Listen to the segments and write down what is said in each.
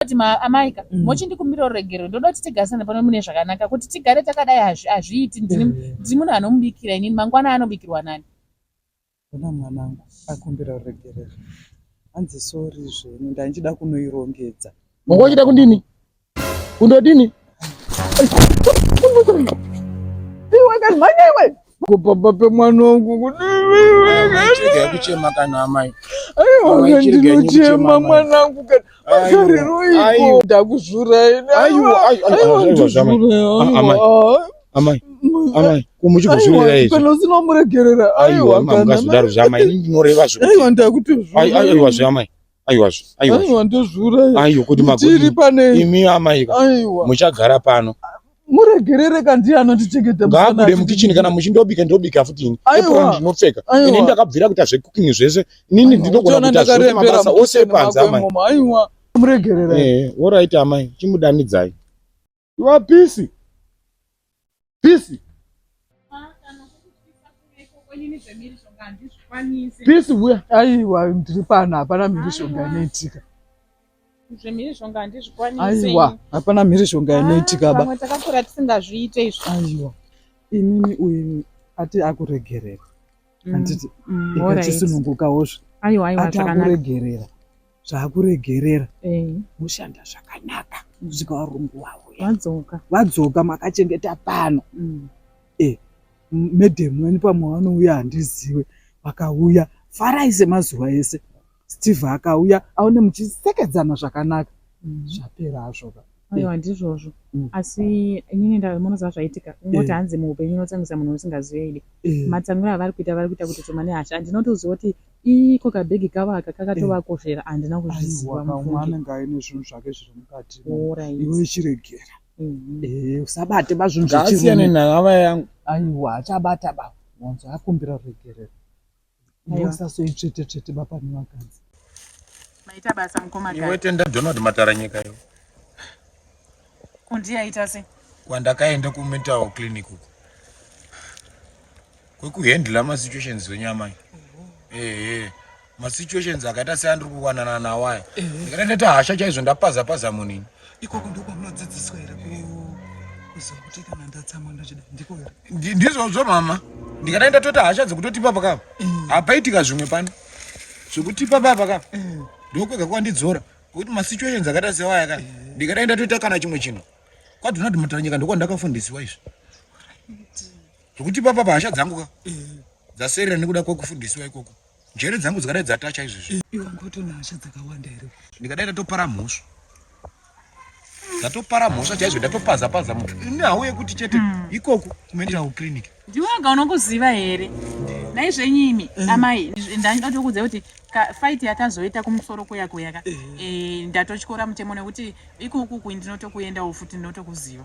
kuti maamaika mm. mochindikumbira ruregerero ndoda kuti tigarisane pano mune zvakanaka kuti tigare takadai hazviiti ndiri mm. munhu anomubikira inini mangwana anobikirwa nani ona mwanangu akumbira ruregerero hanzi sori zveni ndandichida kunoirongedza manga uchida kundini kundodini iwe kazimhanya iwe kupamba pemwana wangu kuchema kana amai aiwa ndinochema mwana wangu kana masariroiko ndakuzvurai amai amai kumuchigozvirira izvi kana usina kumuregerera aiwa kana makazodaro zveamai ndinoreva zvokuti aiwa ndakutozvura aiwa zveamai aiwa aiwa aiwa ndozviuraya aiwa kuti magoti pane imi amai aiwa muchagara pano muregerere kandi anotichengeta ngaabude mukichini kana muchindobika ndobika futi ini apron ndinopfeka ini ndakabvira kuita zvecooking zvese inini ndinogona kuita zvose mabasa ose panze amai aiwa muregerere eh, orit amai chimudanidzai Iwa pisi. Pisi. Pisi huya. Aiwa ndiri pano hapana mhirizhonga inoitika. Zvemhirizhonga handizvikwanise. Aiwa hapana mhirizhonga ah, inoitika ba. Pamwe takakura tisingazviite izvo. Aiwa. Inini uyu ati akuregerera. mm, handiti mm, all right. ikachisunungukawo zve Aiwa, aiwa, ati zvakanaka. akuregerera zvaakuregerera Eh, mushanda zvakanaka Mm. kusvika varungu wavo ya. Wadzoka. vadzoka makachengeta pano Mm. medhemu weni pamwe vanouya handiziwe vakauya farai semazuva ese Steve akauya aone muchisekedzana zvakanaka mm. zvapera azvoka aiwa ndizvozvo mm. asi inini ndamonoziva zvaitika kungoti eh. hanzi muupenyu unotsamwisa munhu usingazive idi eh. matsamwiro avari kuita vari kuita kuti tomane hasha andinotoziva kuti iko kabhegi kavo aka kakatovakoshera eh. andina kuzviziva mumwe anenge aine zvinhu zvake zviri mukati iwe ichiregera mhm. usabate bazvinhu zvasiyane nahava yangu aiwa achabata ba wanzo akumbira ruregerero Musasoitsvetetsvete baba nevakadzi. Maita basa mukoma Iwe tenda Donald Matara nyika yo. Kundi yaita se. Kwandakaenda ku mental clinic uko. Kwekuhandla ma situations zvenyama. Eh eh. Ma situations akaita seandiri kuwanana nawo aya. Ndikatoita hasha chaizvo ndapaza paza munini. ikoko ndiko kwamunodzidziswa here kuziva kuti kana ndatsamwa ndochida ndiko here ndizvozvo mama ndikadai ndatoti hasha dzekutotipa pakapa mm. hapaitika zvimwe pano zvekutipa paa pakapa mm. ndokwega kwandidzora ngokuti masituations akaita sewaya ka mm. ndikadai ndatoita kana chimwe chinhu kwadonald mutaranyika ndokwa ndakafundisiwa izvi zvekutipa papa hasha dzangu ka dzaserera nekuda kwekufundisiwa ikoko Njere dzangu dzikadai dzata chaizvizvi. Iwe wanga utona hasha dzakawanda here? Ndikadai ndatopara mhosva. Ndatopara mhosva chaizvo ndatopaza paza muthu. Ine hawo yekuti chete hmm. ikoko kumenja ku clinic. Ndiwe wanga unokuziva here? Nai zvenyimi eh. amai ndanga ndokuudza kuti fight yakazoita kumusoro kuya kuya ka. Eh, eh ndatochikora mutemo nekuti ikoko ku ndinotokuendawo futi ndinotokuziva.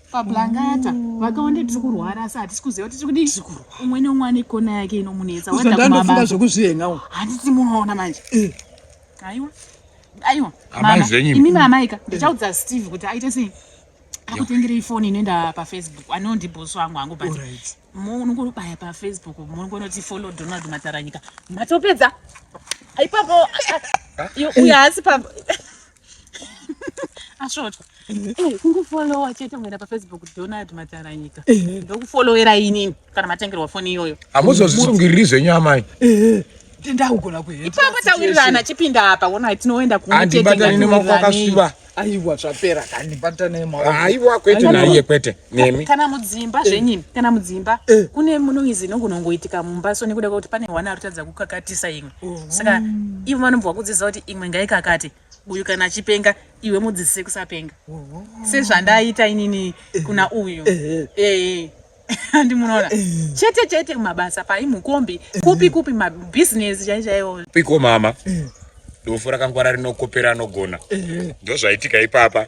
pablangata vakaonde tiri kurwara asi hatisi kuziva kuti tiri kudii umwe neumwe ane kona yake inomunetsa wadakumabaza zvekuzvihenga handisi munoona manje eh. aiwa aiwa imi mamaika ndichaudza steve kuti aite sei akutengere ifoni inoenda pafacebook anondi bosi wangu hangu but munongobaya pafacebook munongonoti follow donald mataranyika matopedza ipapo uyo haasi pa asvotwa eh, kungofollowa chete muenda pafacebook donald mataranyika eh. ndokufollowera inini kana matengerwa foni iyoyo hamuzozvisungiriri zvenyu amai eh, ndakugona kuipapo tawirirana chipinda apa wona tinoenda kuandibatani nemaoko akasuva aiwa zvapera kandibatani maoko aiwa kwete naiye kwete nemi kana mudzimba eh. zvenyini kana mudzimba eh. kune munoizi inogona kungoitika mumba so nekuda kwekuti pane hwana arikutadza kukakatisa imwe oh. saka ivo vanobva kudzidzisa kuti imwe ngaikakate uyu kana achipenga iwe mudzidzise kusapenga oh. sezvandaita inini eh. kuna uyu ee handi munoona chete chete mabasa pai mukombi kupi kupi mabhizinesi chai chaiwo piko mama dofo rakangwara rinokopera anogona ndozvaitika ipapa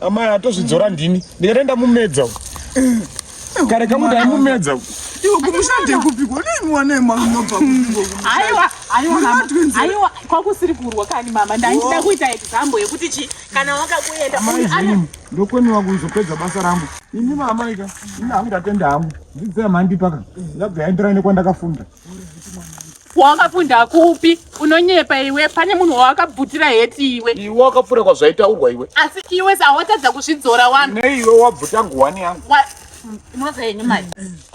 Amai atozvidzora ndini. Ndikaenda mumedza uko. Kare kamu dai mumedza uko. Iwe kumushande kupi kone mwana mwana unobva kupi. Aiwa, aiwa mama. Aiwa, kwakusiri kurwa kani mama. Ndaida kuita example yekuti chi kana wakakuenda. Amai, ndokoniwa kuzopedza basa rangu. Ini mama ika, ini hangu ndatenda hangu. Dzidzai mandi paka. Ndabva yaenderana nekwandakafunda. wakapunda kupi unonyepa iwe pane munhu wawakabvutira heti iwe iwe wakapfura kwazvaitaurwa iwe asi iwe sawatadza kuzvidzora wanu ne iwe wabvuta nguwani yangu inoza yenyu mai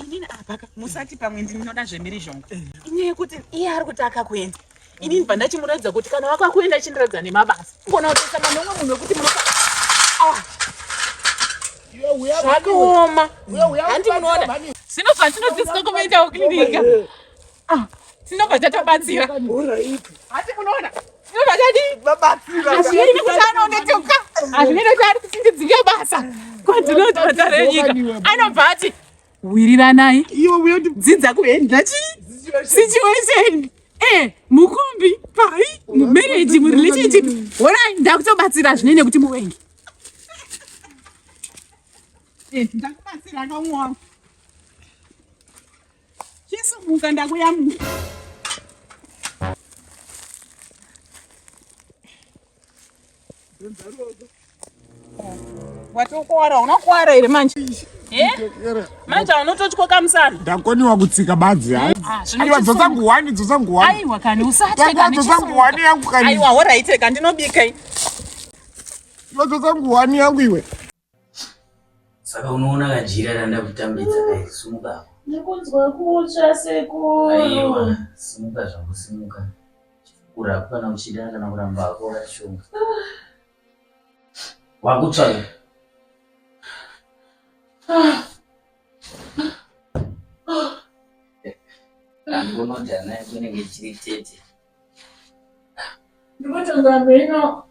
inini apaka musati pamwe ndinoda zvemhirizhonga inyaya yekuti iye ari kuti akakuenda ini ndibva ndachimuratidza kuti kana waka kuenda chindiratidza nemabasa kona kutosanga nomwe munhu wekuti munoka ah. zvakaoma handi munoona zvino zvatinodzidzisa kumaitawo klinika ah, tinobva tatobatsira hati munoona tinobva tadii kuti anonetoka hazvinei kuti ari kuti ndidzinge basa kwadzinoti matare enyika anobva ati wiriranai dzidza kuenda situation eh, mukombi pai mumarriage murelationship horai ndakutobatsira zvine nekuti muwengi eh, ndakubatsira kamwana chisumuka ndakuyamuka Watokuwara, unokuwara here manje? Eh? Manje unototya kamusana. Ndakoniwa kutsika badzi hai. Ah, Aiwa dzosa nguwani, dzosa nguwani. Aiwa kani usatye kani. Dzosa nguwani yangu kani. Aiwa horaite kani ndinobika. Dzosa nguwani yangu iwe. Saka unoona kajira randa kutambidza dai simuka apo. Ndikunzwa kutsva sekuru. Aiwa, simuka zvangu simuka. Chifukura kana uchida kana kuramba hako rashonga. Wakutsva. Ah. Ah. Ndonodana kunenge chiri tete. Ndikutonga mheno.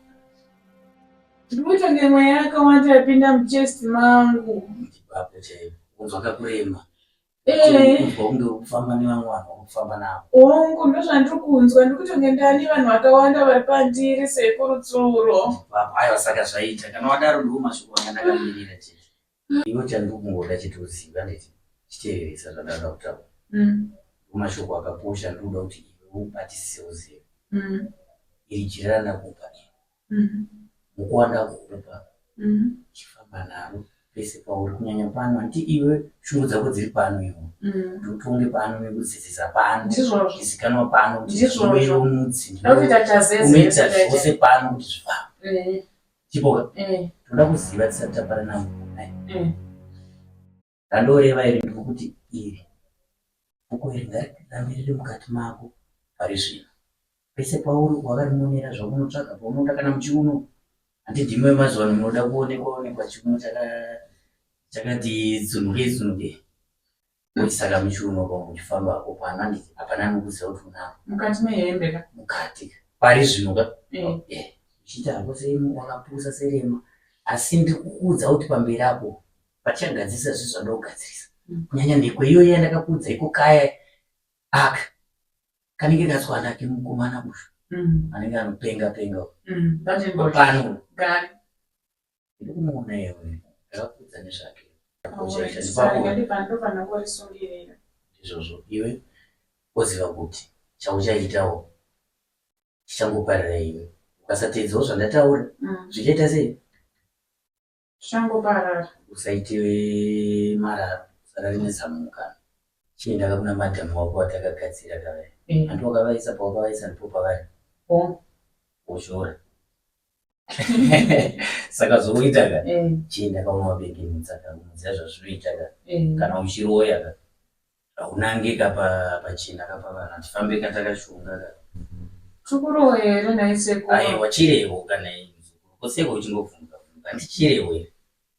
Ndikutonga mweya yakawanda yapinda muchest mangu. Ipapo chaipo. Kunzwa kakurema. Eh. Kunzwa kunge ukufamba nevamwe vanhu wakufamba navo. Hongu ndozvandiri kunzwa ndikutonge ndani vanhu vakawanda vari pandiri sekurutsuro. Ipapo aiwa saka zvaita kana wadaro ndiwo mashoko anga ndakamirira chete. Umm iwe chandikungoda chete uzive handiti chiteereresa zvandanga kutaura ndomashoko akakosha andikuda kuti iwe ubatisise uzive iri jira randakupa iri muko wandakukupa chifamba naro pese pauri kunyanya pano handiti iwe shungu dzako dziri pano iwe kuti utonge pano nekudzidzisa pano izikanwa pano kuti iwe mudzi unoita zvose pano kuti zvifambe Chipoka, eh. ndoda kuziva tisati tapara navo eh. randoreva iri ndikukuti iri bhuku iri ngarirambe riri mukati mako pari zvino pese pauri wakarimonera zvamunotsvaga paunoda kana muchiuno handidhimwe mazuva ano munoda kuonekwa onekwa chiuno chakati tsunuke tsunuke Muchisaka muchiuno pamwe muchifamba apo pana ndiki hapana anokuziva kuti unako. Mukati mehembe ka. Mukati ka. Pari zvino ka. Eh. Eh. Uchiti hapo seimu wakapusa serema asi ndiri kukuudza kuti pamberi apo pachagadzirisa zvinhu zvanoda kugadzirisa. Mm. Kunyanya ndekwe iyoyi yandakakuudza iko kaya aka kanenge katswana kemukomana uyu. Mm. Anenge anopenga penga. Mm. Pano. Gari. Ndiri kumuona iye uyu. Ndakakuudza nezvake. Uchaita sepamwe. Ndofanira kurisungirira. Ndizvozvo iwe woziva kuti chauchaitawo chichangoparira iwe. Ukasateedzawo zvandataura mm. zvichaita sei? Zvichangoparara. Usaite mararo, usarare nezamuka. Chiendaka kuna madhamu wako watakagadzira kavaya. Eh. Andiwakavaisa pawakavaisa ndipo pavari. Oh. Woshora. saka zvokuita ka eh. chienda kaunobeke mutsaka unoziva zvazvinoita ka eh. kana uchiroya ka haunange ka pachena ka pavana tifambe ka takashonga ka chikurowe here naisekuru aiwa chirewo kana koseko uchingobvunza bvunza ndichirewo here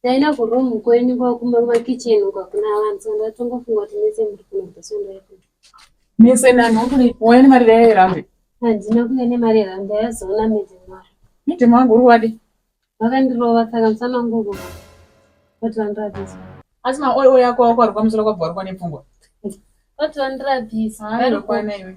Ndaenda kuroom kwenyu kwakumba kumakitchen uko hakuna vanhu so ndatongofunga kuti mese muri kunobva so ndaikuti mese nani ukuri wauya nemari dai yerambe handina kuya nemari yerambe yazoona midzi mari midzi mangu uri wadi vakandirova saka musana wangu uko vati vandirabisa asi maoyo yako wako ari kwamusoro kwabva uri kwane pfungwa vati vandirabisa airokwana iwe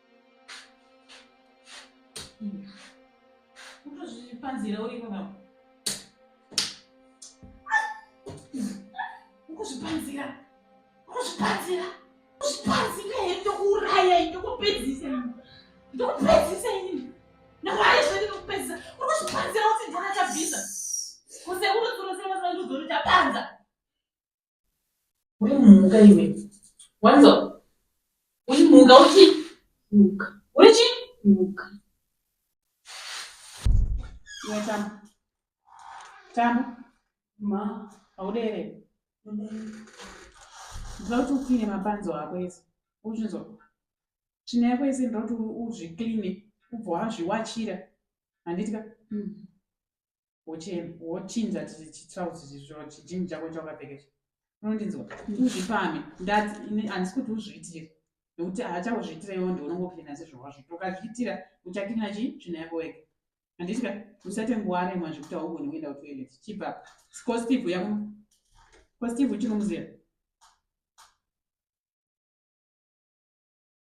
Kutozvipanzira uri baba. Kuzvipanzira. Kuzvipanzira. Kuzvipanzira here ndokuuraya ini ndokupedzisa ini. Ndokupedzisa ini. Nawaye zvati ndokupedzisa. Uri kuzvipanzira kuti ndona chabvisa. Kusekuru tsuro sema sema ndozori chapanza. Uri mhuka iwe. Wanzo. Uri mhuka uchi. Mhuka. Uri chi? Mhuka. Iwe tamu. Tamu. Ma. Haudere. Ndinoda kuti ukine mapanzo ako ese. Uchinzwa. Tsvina yako ese ndinoda kuti uzvikline ubva wazviwachira. Handiti ka? Mm. wochinja chitrauzi chizvo chijini chako chawakapfekesha unondinzwa uzvipame ndati ini handisi kuti uzviitire nokuti haachauzviitira iwo ndi unongokirina sezvawazviita ukazviitira uchakirina chii tsvina yako wega handiti ka usate nguva remwa zvekuti haugoni kuenda kutoilet chibva ko steve uya kuno ko steve uchinomuziva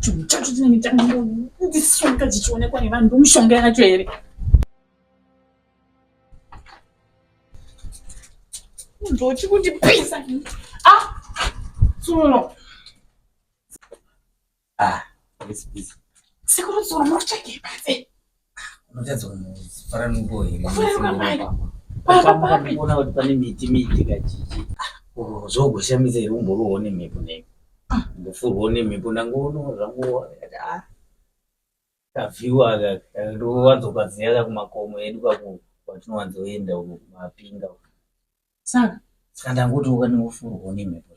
chinhu chacho chine mitango ndisonga dzichionekwa nevanhu ndomushonga yacho here ndochi kundipisa ah tsuno Ah, it's busy. Sekuru Zoro munotsvagei panze? Unotadza kufara nungo here? Kufara nungo mai. Baba papi? Unaona kuti pane miti miti kajiji. Oh, zvogoshamisa here umborowo nemhepo nei? Ah. Ndofurwo nemhepo ndangoona zvangu ah. Kavhiwa aka ndowanzokaziya ka kumakomo edu kako kwatinowanzoenda uko kumapinga. Saka saka ndangoti ukanofurwo nemhepo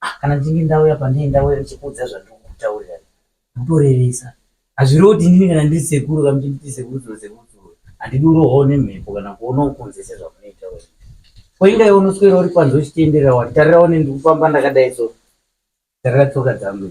Ah, kana ndinge ndauya pandei ndauya ndichikuudza zvandiri kukutaurira kutorevesa hazvirevo kuti ndini kana ndiri sekuru kana kuti ndiri sekuru dzoro sekuru dzoro handidi urohwawo nemhepo kana kuona ukunze sezvamunoita we koinga iwe unoswera uri kwanzi uchitenderera wani tarirawo nendikufamba ndakadai so tarira tsoka dzangu